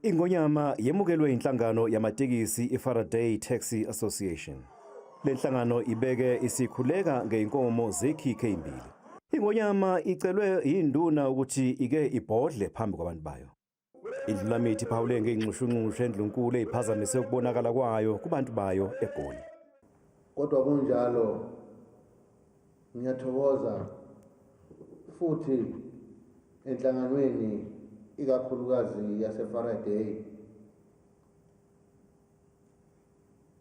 Ingonyama yemukelwe inhlangano yamatekisi iFaraday Taxi Association. Le nhlangano ibeke isikhuleka ngeinkomo zekhikhe imbili. Ingonyama icelwe yinduna ukuthi ike ibhodle phambi kwabantu bayo. Indlulamithi iphawule ngey'nxushunxushu endlunkulu eyiphazamise ukubonakala kwayo kubantu bayo eGoli. Kodwa kunjalo ngiyathokoza futhi enhlanganweni ikakhulukazi yaseFaraday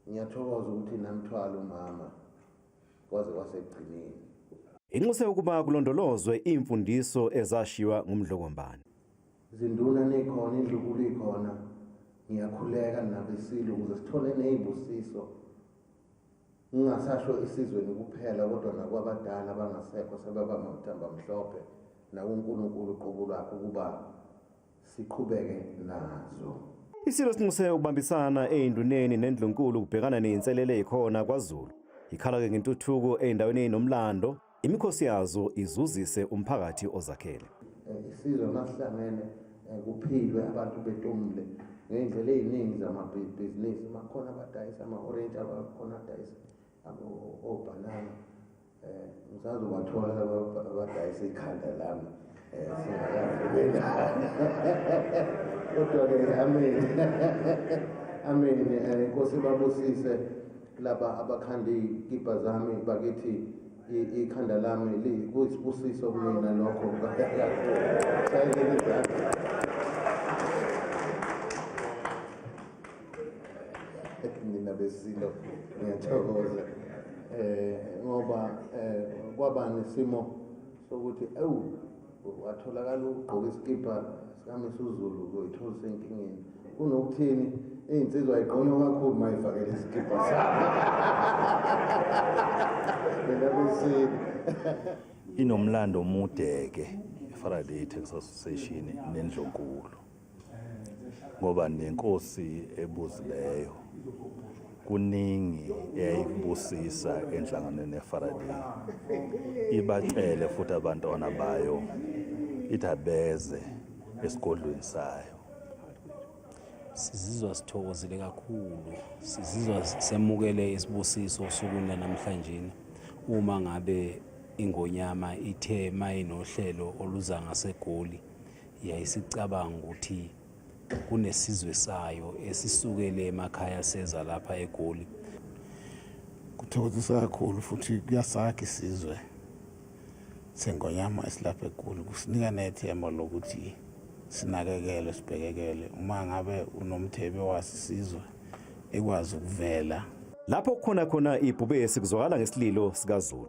ngiyathokoza ukuthi namthwala umama kwaze kwasekugcineni. Inxuse ukuba kulondolozwe iimfundiso ezashiywa ngumdlokombane. Zinduna nikhona indlukulu ikhona ngiyakhuleka nabesile ukuze sithole nezibusiso ngingasasho isizweni kuphela kodwa nakwabadala abangasekho sebaba makuthamba mhlophe nakuNkulunkulu uqobo lwakhe ukuba siqhubeke nazo Isilo sinxuse ukubambisana einduneni nendlunkulu kubhekana nezinselele ezikhona kwaZulu ikhala ke ngentuthuko eindaweni ezinomlando Imikhosi yazo izuzise umphakathi ozakhele. Eh, isizwe masihlangene eh, kuphilwe abantu betomule ngey'ndlela ey'ningi zamabhizinisi makukhona abadayisa ama-orenji abakhona adayisa obhanana um eh, ngisazobathola abadayisa ikhanda lami kodwa-ke amen amen eh, inkosi babusise laba abakhanda iy'kibha zami bakithi ikhanda lami kuyisibusiso kumina lokho sayekela izandla nina besilo ngiyathokoza um ngoba um kwaba nesimo sokuthi ewu watholakala ukugqoka isikibha sikamisuzulu uzoyithola senkingeni kunokuthini iy'nsizwa igqonywa kakhulu uma ifakele isikibha sakho mina kusini inomlando omude-ke i-faraday tax association nendlonkulu ngoba nenkosi ebuzileyo kuningi eyayikubusisa enhlanganweni yeFaraday ibacele futhi abantwana bayo ithabeze esigodlweni sayo sizizwa sithokozile kakhulu sizizwa semukele isibusiso osukwini lanamhlanje uma ngabe ingonyama ithe mayinohlelo oluza ngasegoli yayisicabanga ukuthi kunesizwe sayo esisukele emakhaya seza lapha egoli kuthokozisa kakhulu futhi kuyasakha isizwe sengonyama esilapha egoli kusinika nethemba lokuthi sinakekele sibhekekele uma ngabe unomthebe wasisizwe ekwazi ukuvela lapho kukhona khona ibhubesi kuzwakala ngesililo sikazulu